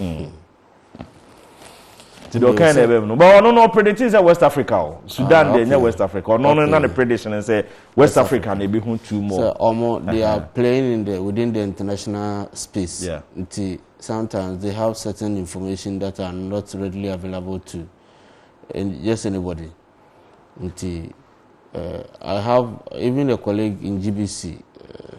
Mm. nti deɛ ɔkan na ɛbɛm no but ɔno no ɔpredicting sɛ west africa o sudan deɛ nyɛ west africa ɔno no na ne prediction sɛ west africa na ebi ho two more. sɛ ɔmo they are playing in the within the international space yeah. nti sometimes they have certain information that are not readily available to eh, just anybody nti uh, i have even a colleague in gbc uh, eh,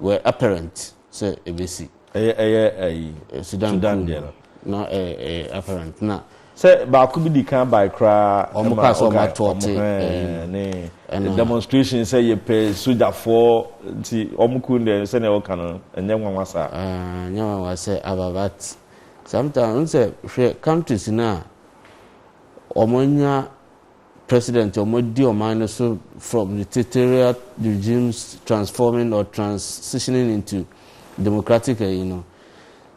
were apparent sɛ ɛbɛsi. Ɛyɛ ɛyɛ ayi. Sudan Sudan deɛ no. Na ɛyɛ apparent na. Sɛ baako bi di kan bae koraa. Wɔn kaa sɛ wɔn ato ɔte ɛyi mu. Ne demonstration sɛ yɛpɛ sogyafoɔ nti wɔn kun deɛ sɛdeɛ wɔka no ɛnyɛ nwanwa saa. Ɛɛ nyɛ nwanwa sɛ aba but sometimes n sɛ hwɛ countries no a wɔn anya. President a wɔadi ɔman no so from dictatorial regimes transforming or transitioning into democratic ayi no,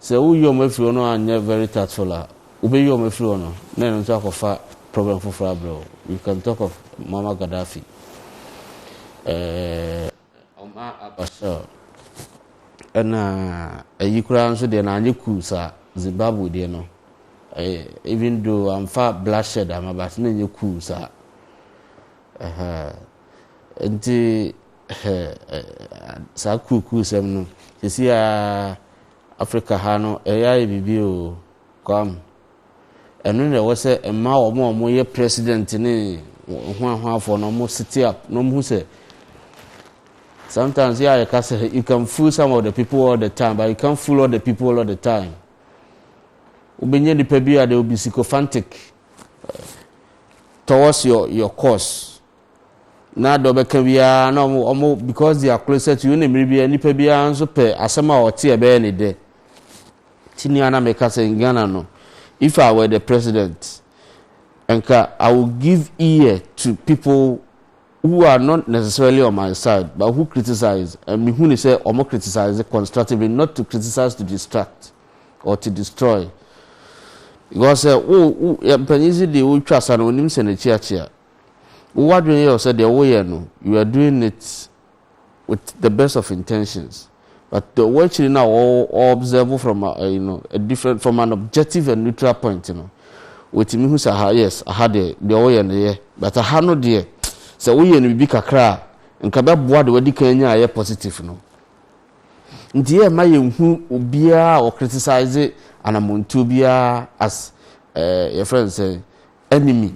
sɛ woyi wɔn afiri hɔ na wɔanyɛ very tactful a, wobeyi wɔn afiri hɔ no na ɛno nso akɔfa problem foforɔ abrɛ wo. You can talk of Muammar Gaddafi. Eh, Ɔma aba sor. Nna iyi koraa nso deɛ na annyɛ cool saa, Zimbabwe deɛ no even though wɔammfa bloodshed amma but na nnyɛ cool saa. Ɛhɛɛ nti saa cool cool sɛm no sisi a Africa ha no ɛyɛ ayɛ biribi o, Kwame Ɛno na ɛwɔ sɛ ɛma wɔn a wɔyɛ president ne hoahoafoɔ no wɔn sete up na wɔn hu sɛ sometimes yɛ a yɛka sɛ you can fool some of the people all the time but you can't fool all the people all the time wobɛnya nipa bi a they will be sycophantic eh, towards your your course na dɔ bɛka biara na ɔmo ɔmo because they are closer to you ne mmiri biara nipa biara nso pɛ asɛm a ɔte ɛbɛyɛ ne dɛ Ti nea na meka sɛ in Ghana no if I were the president nka I will give ear to people who are not necessarily on my side but who criticize and me hu ne sɛ ɔmo criticize constructively not to criticize to distract or to destroy because sɛ wo wo yɛ mpanyin si deɛ wotwa sa no onim sɛ n'akyi akyea wo wadwene yɛ sɛ deɛ woyɛ no you are doing it with the best of intentions but the ɔwɔ akyiri no a ɔ ɔ observe from a ɛyi no a different from an objective and neutral point no wɔtumi hu sɛ aha yes aha deɛ deɛ ɔyɛ no yɛ but aha no deɛ sɛ woyɛ no biribi kakra a nka bɛboa de wadi kan nya ayɛ positive no nti yɛ ma yɛnhu obiara a ɔcriticize anamontuo biara as eh, yɛfrɛ no sɛ enemy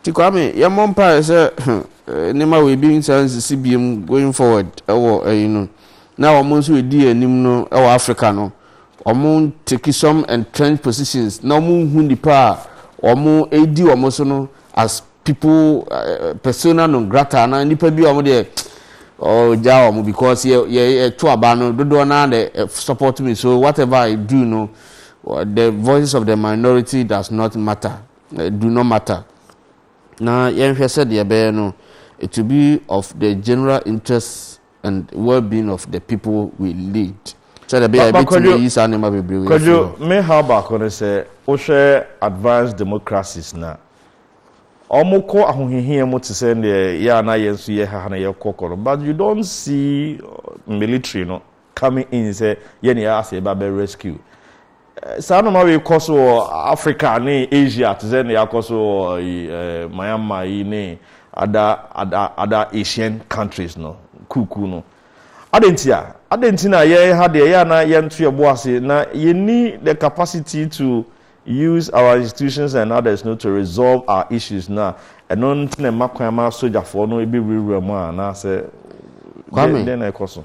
Nti Kwame yɛmmɔ mpaeɛ sɛ nneɛma wei bi nsan nsisi biom going forward wɔ ɛyi no na wɔn nso ɛdi yɛn anim no wɔ Africa no wɔn take some entrenched positions na wɔn nhu nipa a wɔn ɛdi wɔn so no as people persona non grata na nipa bi a wɔn deɛ ɔgya wɔn because yɛ yɛ ɛto aba no dodoɔ naa na support me so whatever I do no the voices of the minority does not matter do no matter, na yɛnhwɛ sɛ deɛ ɛbɛyɛ no to be of the general interest and well-being of the people we lead. Sɛdeɛ ɛbɛyɛ a yɛbɛtumi ayi saa nneɛma bebree wei afiri hɔ. Kwadwo, me haw baako ne sɛ, wohwɛ advanced democracies no a, wɔkɔ ahohiahia mu te sɛ deɛ yɛ a na yɛn nso yɛha ha na yɛkɔ kɔ no, but you don't see military no coming in sɛ yɛn na yɛ asɛ ba bɛ rescue saa nneɛma wei kɔ so wɔ africa ne asia te sɛ ne akɔ so wɔ yi ɛɛ myanmar yi ne ada ada ada asian countries no kuku no adɛn nti a adɛn nti na yɛn ha deɛ yɛ a na yɛnto yɛ bo ase na yɛnni the capacity to use our institutions and others no to resolve our issues no a ɛno nti na ɛma kwan ma sogyafoɔ no ebi wurawura mu a anaasɛ Kwame, dɛn na ɛkɔ so.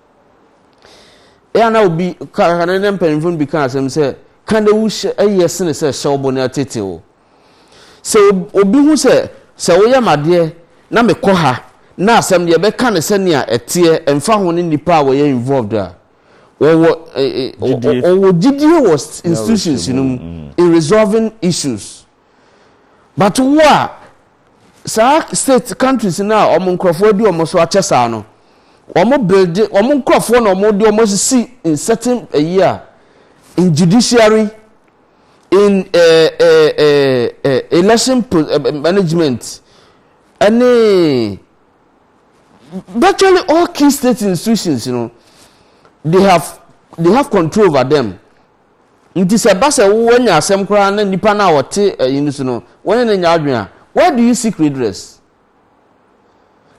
Eɛ a na obi, kane ne mpanyimfo no bi ka asɛm sɛ, Ka na wu hyɛ eye sene sɛ hyɛ wo bo na ɛtete wo. Sɛ obi hu sɛ, sɛ woyɛ me adeɛ na mekɔ ha na asɛm no yɛbɛka no sɛnea ɛteɛ ɛmfa ho ne nnipa a wɔyɛ involved a, wɔwɔ eh, eh, Gyidie. wɔwɔ gyidie wɔ ins- institutions no mu in resolving issues. But wo a saa state countries no a wɔn nkurɔfoɔ adi wɔn so akyɛ saa no, wɔn build wɔn nkurɔfoɔ na wɔn de wɔn asisi in certain ayi a in judiciary, in eh, eh, eh, eh, election po- eh, eh, management, ɛne virtually all key state institutions no they have they have control over them Enti sɛ ɛba sɛ woanya asɛm koraa na nipa no a ɔte ɛyi no so no, wo ne no nyɛ adwene a, why do you seek redress?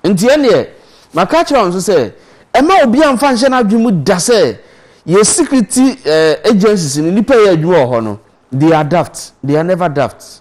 Enti ɛnneɛ, maka akyerɛ wɔn nso sɛ, ɛmma obiara mfa nhyɛ n'adwene mu da sɛ yɛn security agencies no, nnipa a ɛyɛ adwuma wɔ hɔ no, they are daft, they are never daft.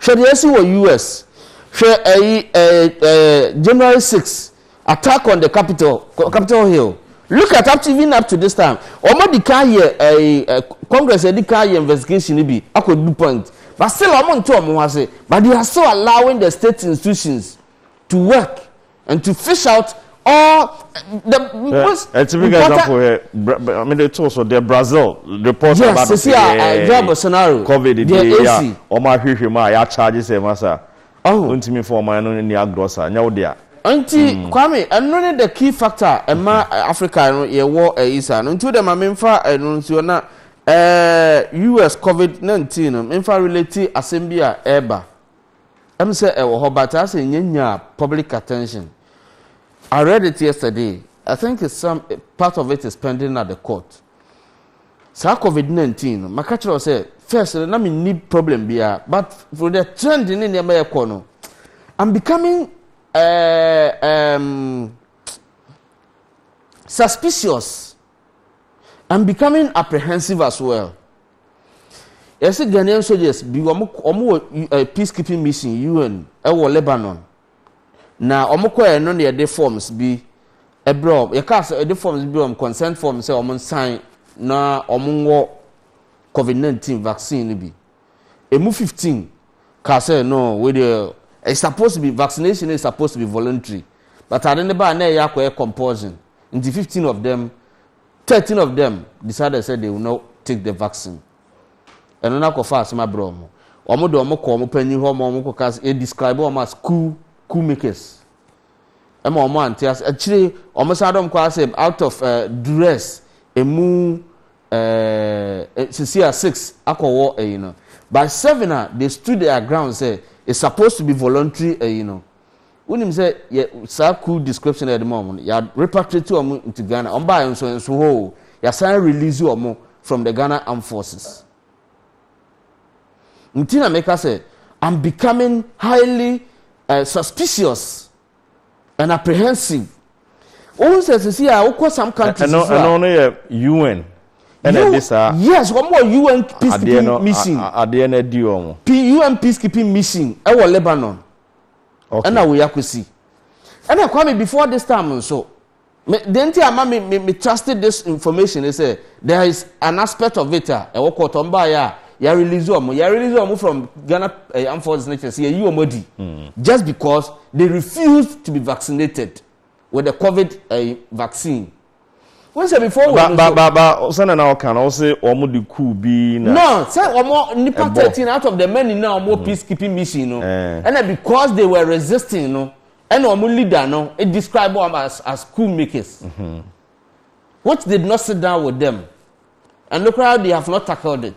Hwɛ deɛ asi wɔ US. Hwɛ ɛyi ɛɛ ɛɛ January 6 attack on the capital capital hill. Look at up to even up to this time. Wɔn adi kan yɛ ɛɛ ɛɛ congress adi kan yɛ investigation no bi akɔ du point. But still wɔn nte wɔn ho ase. But they are still allowing the state institutions to work. And to fish out all the eh, most uh, typical important... example here. Eh, I mean, they told so the Brazil report yes, about the yeah, yeah, scenario. COVID, the AC. Yeah, Oma Hwihwima, ya charges, eh, masa. Oh, untimi for my no ni agrosa. Nyawo dia. Nti hmm. Kwame, ɛno ne the key factor ɛma hmm. eh, Africa no yɛwɔ ɛyi saa no nti o de ma mi nfa ɛno nsuo na ɛɛ US COVID nineteen no mi nfa relate asɛm bi a ɛɛba. Em sɛ ɛwɔ hɔ but asɛ nya nyaa public attention. I read it yesterday, I think it's some part of it is pending at the court. Saa covid 19 no, maka kyerɛ wo sɛ first no na menni problem biara but for the trend ne nneɛma ɛkɔ no, I'm becoming uh, um, suspicious. I'm becoming apprehensive as well. Yɛse Ghanaian soldiers bi wɔn wɔn wɔ eh, peacekeeping mission UN ɛwɔ Lebanon na wɔn kɔɛ no na yɛde forms bi ɛbrɛ wɔn yɛka sɛ yɛde forms bi brɛ wɔn consent form sɛ wɔn nsan na wɔn nwɔ covid nineteen vaccine no bi emu fifteen kaa sɛ no wei deɛ it's supposed to be vaccination is supposed to be voluntary but ade ne baa na ɛyɛ akɔyɛ compulsion nti fifteen of them. Thirteen of them decided sɛ they will not take the vaccine. Ɛno no akɔfa asɛm abrɛ wɔn. Wɔn de wɔn kɔ wɔn panyin hɔ ma wɔn kɔka sɛ yɛdescribe wɔn as coup coup makers. Ɛma wɔn ante ase. Akyire wɔn san dɔm kɔ asɛ out of uh, duress emu uh, sisi a six akɔwɔ ɛyi no. By seven a they stood their ground sɛ it's supposed to be voluntary ɛyi no. Wonim sɛ yɛ saa crew description a yɛde ma wɔn no, yɛ repatriate wɔn into Ghana. Wɔn baayɛ nso nso hɔ o, yɛasan release wɔn from the Ghana Armed Forces. Nti na meka sɛ, I'm becoming highly uh, suspicious and apprehensive. Wohu sɛ sisi a wokɔ some countries so a. Ɛno no yɛ UN. Ɛna ɛde saa. Yes, wɔn wɔ UN peacekeeping mission. Adeɛ no adi wɔn. UN peacekeeping mission ɛwɔ Lebanon. Ɛna wei akosi. Ɛna Kwame before this time nso, me deɛ nti ama me me me trusted this information ne sɛ there is an aspect of it a ɛwɔ court wɔn baayɛ a yɛ release wɔn yɛ release wɔn from Ghana ɛyɛ eh, armed forces ne kyerɛ sɛ yɛyi wɔn adi hmm. just because they refused to be vaccinated with the COVID ɛyɛ eh, vaccine. wọn sɛ before wɔ ɛno so. ba ba sɛnɛ na ɔka na ɔsɛ wɔn de kuu bi na. no sɛ wɔn nipa thirteen out of the men nyinaa wɔn mm. peace keeping mission no eh. ɛna because they were resisting no ɛna wɔn leader no e describe wɔn as as cool makers mm-hmm. which did not sit down with them and look how they have not tackled it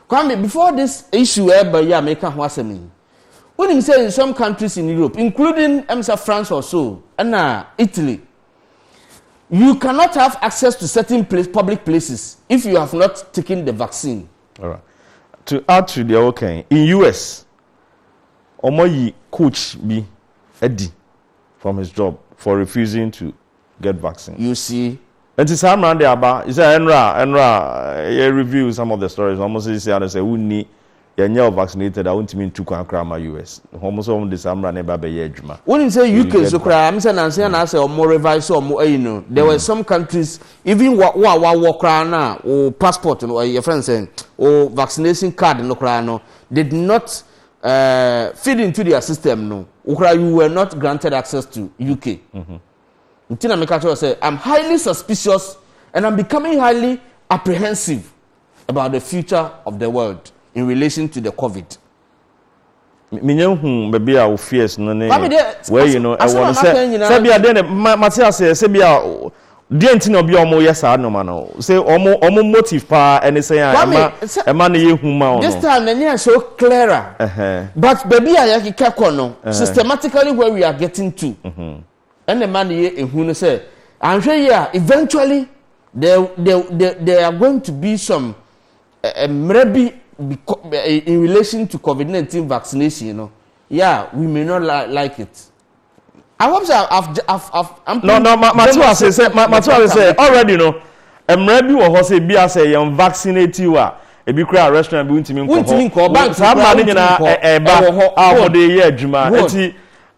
kwame before this issue ɛba yi a mɛka ho asɛm yi wonim sɛ in some countries in europe including ɛm sɛ france or so ɛna italy. You cannot have access to certain place, public places if you have not taken the vaccine. Alright. To add to the okay, in US, omoyi coach bi adi from his job for refusing to get vaccine. You see? And to saa mmara de aba, sɛ ɛnra ɛnra yɛ review some of the stories, wɔn sɛ sɛ ano sɛ wonni yɛnyɛ ɔvaccinated a wontumi ntu kwan koraa mma US. Hɔn nso wɔn de saa mmra no reba abɛyɛ adwuma. Wonim sɛ UK nso koraa me sɛ nansa yi na asɛ wɔn revise wɔn ayi no there were some countries even wa wo a wawɔ koraa no a wo passport no yɛfrɛ no sɛ wo vaccination card no koraa no did not uh, feed into their system no wo koraa you were not granted access to UK mm-hmm. nti na meka kyerɛ sɛ I'm highly suspicious and I'm becoming highly apprehensive about the future of the world in relation to the covid. menya hu baabi a wo fears no ne wɔayi no ɛwɔ no sɛ sɛ bia deɛ ne mate aseɛ sɛ bia deɛ nti na ɔbia ɔmo yɛ saa nneɛma no sɛ ɔmo ɔmo motive paa ɛne sɛ a ɛma ɛma ne yɛ hu ma ɔno this time n'ani yɛ so clearer but baabi a yɛkeka kɔ no systematically where we are getting to mm-hmm. ɛna ɛma no yɛ ehu no sɛ anhwɛ yie a eventually there there there there are going to be some mmerɛ bi in relation to covid nineteen vaccination no yeah we may not li like it. I hope so. I've, I've, I've, I'm no, no, ma, ma, ma, say, say, ma, ma, say, already, no. mmerɛ bi wɔ hɔ sɛ ebi asɛ yɛn vaccinate wa ebi kura restaurant bi ntumi nkɔ hɔ saa mma ne nyinaa ɛba a wɔde yɛ adwuma eti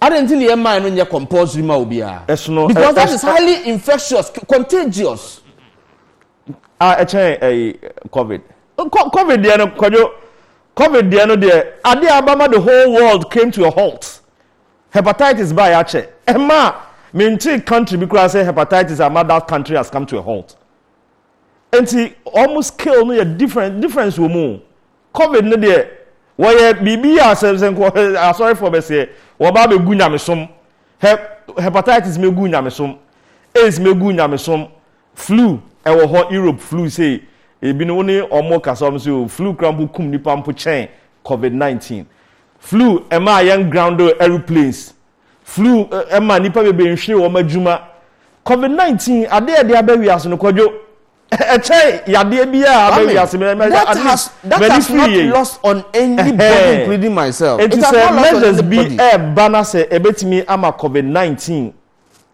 Adɛn nti na yɛmmae no nyɛ compulsory ma obiara? Ɛsono ɛ- Because that ɛs- is highly infectious, c- contagious. a ɛkyɛn ɛyi covid Co- covid deɛ no kwadwo covid deɛ no deɛ ade a abama the whole world came to a halt hepatitis baa yɛakyɛ ɛma a mentee country bi koraa sɛ hepatitis ama that country has come to a halt Nti wɔn scale no yɛ different difference wɔ mu. Covid no deɛ wɔyɛ biribi a sɛ sɛ nkɔ asɔrefoɔ bɛseɛ wɔba abɛgu nyamesom. Hɛ hepatitis mɛgu nyamesom, AIDS mɛgu nyamesom, flu ɛwɔ hɔ Europe flu sei ebinom wo ne wɔn kasa wɔn sɛ o flu kura mpo kum nipa mpo kyɛn covid 19. Flu ɛmaa yɛn grounded aeroplanes Flu ma nnipa bebree nhwere wɔn adwuma. Covid 19, ade a ɛde aba wiase no, Kwadwo, ɛkyɛ yadeɛ bi a aba wiase no, ɛma at least m'ani firi yei. Enti sɛ measures bi ɛreba na sɛ ɛbɛtumi ama Covid 19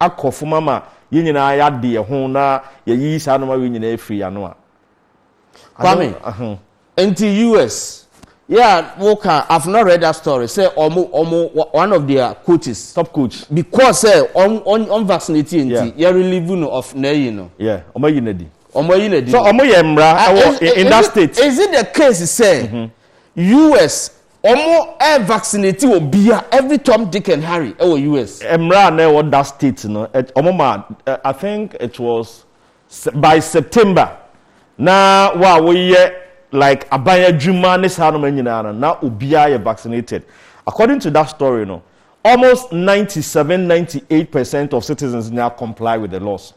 akɔ fam ama yɛn nyinaa yɛade yɛn ho na yɛayiyi saa nneɛma wei nyinaa afiri yɛn ano a, Kwame, nti US, yeah, wo ka, I've not read that story, sɛ ɔmo, ɔmo, one of their coaches. Top coach. Because sɛ, ɔm, ɔm, ɔm vaccinate yɛ nti, yeah. yɛ relieve no of n'ayi no. Yeah, ɔmo ayi n'adi. Ɔmo ayi n'adi. So ɔmo yɛ mmara ah, ɛwɔ in, in that state. Is it the case sɛ, mm -hmm. US, ɔmo ɛ vaccinate wɔ bia, every Tom, Dick and Harry ɛwɔ US. Mmara na ɛwɔ that state no, ɔmo ma, I think it was By September na wo a woyɛ like aban adwuma ne saa noma nyinaa no na obiara yɛ vaccinated. According to that story no almost ninety seven, ninety eight percent of citizens nyinaa comply with the laws.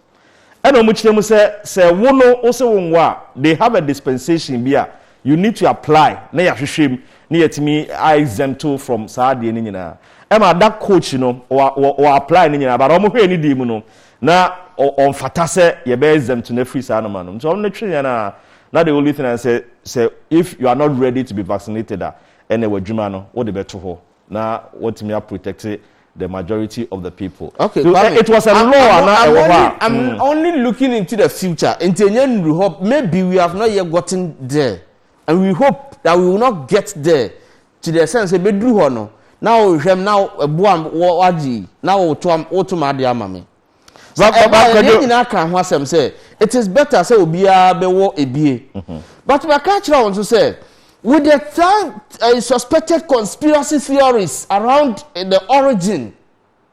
Ɛna wɔn kyerɛ mu sɛ sɛ wo no wo se wo nwo a they have a dispensation bi a you need to apply na yɛahwehwɛ mu na yɛatumi a exempt wo from saa adeɛ no nyinaa. Ɛma that coach no ɔ ɔ ɔ apply no nyinaa but wɔn hwɛɛ ne deɛ mu no Na ɔmfata sɛ yɛbɛ exempt no afiri saa nnoɔma nom nti ɔno no twe yɛn a na the only thing ara ne sɛ sɛ if you are not ready to be vaccinated a ɛnɛ w'adwuma no wode bɛto hɔ na watumi a protect the majority of the people okay, so, eh, it was a law I'm, ana ɛwɔ hɔ a I'm mm. only looking into the future nti ɛnyɛ nnuru hɔ maybe we have not yet gotten there and we hope that we will not get there Ntsi dɛ esian sɛ bedur hɔ no na ɔrehwɛ me na ɔboa me wɔ adze yi na ɔroto m'adze ama me. Sɛ ɛba a, hɛn nyina kã ho asɛm sɛ it is better sɛ obiara bɛwɔ ebie. But makã akyerɛ hɔn so sɛ with the thank suspected conspiracy theories around the origin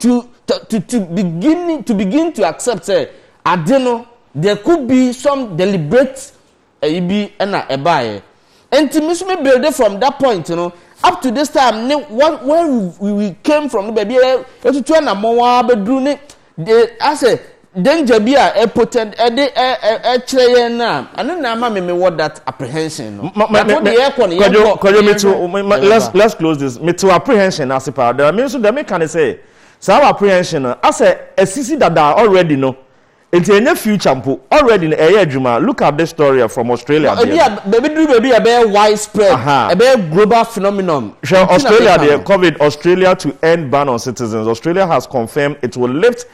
To to to to beginning to begin to accept sɛ ade no there could be some deliberate ɛyi bi ɛna ɛbaayɛ. Nti me nso me build from that point no up to this time ne what where we, we came from no baabi a yɛtutu anamɔn ara bɛduru ne de asɛ Danger bi a ɛ potent ɛ de ɛ ɛ ɛ kyerɛ yɛn no a, ɛno na ama me me wɔ that apprehension no. Ma ma Yɛakɔ me me deɛ yɛkɔ no kwadwo yɛnkɔ kwadwo na me yɛnhwɛ. to me ma let's Yɛbɛba. let's close this me to apprehension no ase paa dɛm me nso dɛm me ka ne sɛ saa wɔ apprehension no asɛ asisi dada already no nti ɛnyɛ future mpo already no ɛyɛ adwuma look at this story ɛ from Australia No deɛ ebi a no baabi duru baabi a ɛbɛyɛ wide spread aha ɛbɛyɛ global phenomenon hwɛ nti na Australia meka deɛ no. covid Australia to end ban on citizens Australia has confirmed it will lift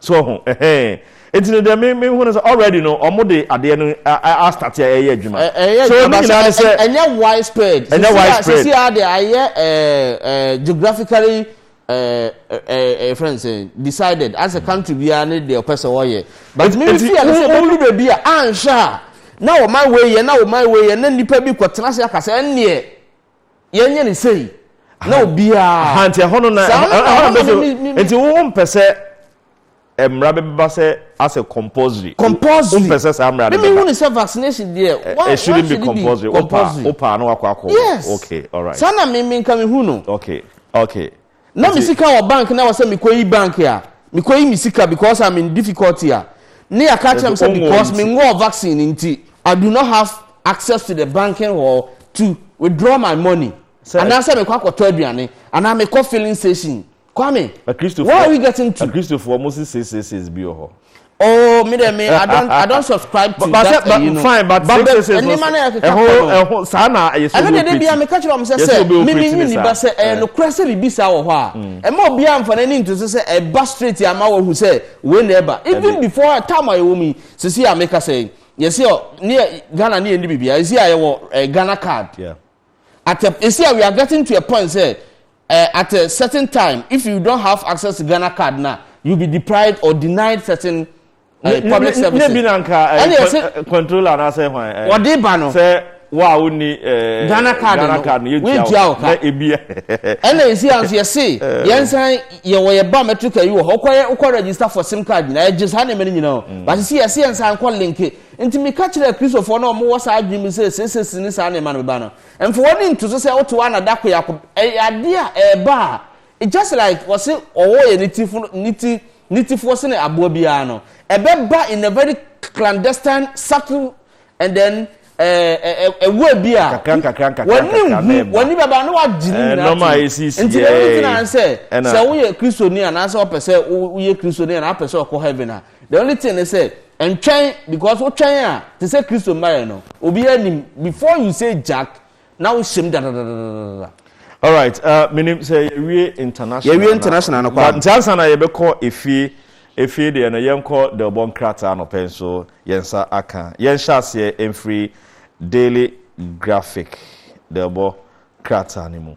so ho ɛhɛn nti no deɛ me me hu no sɛ already no ɔmo de adeɛ no astate a ɛyɛ adwuma so ɔno nyinaa ne sɛ ɛnyɛ widespread ɛnyɛ widespread sisi a deɛ ayɛ ɛɛ geographically ɛɛ ɛɛ friend sɛ decided as a country biara ne deɛ ɔpɛ sɛ ɔyɛ but mi fi ɛno sɛ ɔmo lu beebi a anhwɛ a na ɔman wei yɛ na ɔman wei yɛ na nipa bi kɔ tena ase akasa ɛnneɛ. yɛnyɛ ne sei na obiara nti ɛhɔ no na nti wo mpɛ sɛ mmara bi bɛba sɛ asɛ compulsory compulsory mpɛ sɛ saa mmara no bɛba mímí hu ne sɛ vaccination deɛ eh, wa wa shouldn't be compulsory o pa o pa na wakɔ akɔ yes okay alright saa na mímí nka mi hu no okay okay. na me sika wɔ bank na ɛwɔ sɛ mekɔyi bank a mekɔyi me sika because I'm in difficulty a ne yɛaka akyerɛ me sɛ because menwɔɔ vaccine nti I do not have access to the banking hall to withdraw my money anaasɛ mekɔ akɔtɔ aduane anaa mekɔ filling station Kwame, where are we getting to? Akristofoɔ mo si six six six bi wɔ hɔ. Oh, me there, me. I don't, I don't subscribe to but, that. But, you know. Fine, but but six, six, six, six. Eho, eho. Sana, yes. Ano de de biya me catch up. Say say, me me ni ni ba say. Eh, no kura say bibi sa wo ha. Eh, mo biya mfa na ni ntu say say. Eh, ba straight ya ma wo hu say. We never. Even before time ayo mi. Say say ya me ka say. Yes yo. Ni Ghana ni endi bibi. Yes ya yo. Eh, Ghana card. Yeah. at a esi a we are getting to a point sɛ uh, at a certain time if you don't have access to Ghana card na you be deprived or denied certain uh, public services. ne bi na nka ɛne eh, ɛsɛ eh, controller na sɛ hwan eh, wɔde ba no sɛ wo a wonni Ghana card no Ghana card no yɛtua wo ka na ebi ɛna esi a nso yɛse yɛn nsan yɛwɔ yɛ biometric ayi wɔ hɔ wokɔ wokɔ register for sim card nyinaa yɛgye saa nneɛma no nyinaa o mm. but si yɛse yɛn nsan kɔ link Enti meka kyerɛɛ Kristofo a na wɔwɔ saa adwene mu sɛ, Seesei si ne saa nneɛma no bɛba no, mfa w'ani nto so sɛ wote wo ana da koro yi ako. Ɛyɛ ade a ɛreba a, just like wɔse ɔwɔ yɛ ne ti foro, ne ti, ne ti foɔ sene aboa biara no, ɛbɛba in a very clandestine, subtle, and then ɛwura bi a w'ani nhu, w'ani bɛba na wagye ne nyinaa to. Nti dɛm nti na sɛ sɛ woyɛ Kristoni anaasɛ wɔpɛ sɛ woyɛ Kristoni anaa wopɛ sɛ ɔkɔ heaven a, The only thing ne sɛ ntwɛn because wotwɛn a te sɛ Kristo mma yɛ no obiara nim before you say jack na wohyɛ mu dadadadadada. Alright, uh, menim sɛ yɛwie international yɛwie international no kwa nti ansa na yɛbɛkɔ efie efie deɛ no yɛnkɔ dɛbɔ nkrataa no pɛn so yɛn nsa aka yɛnhyɛ aseɛ mfiri daily graphic dɛbɔ krataa no mu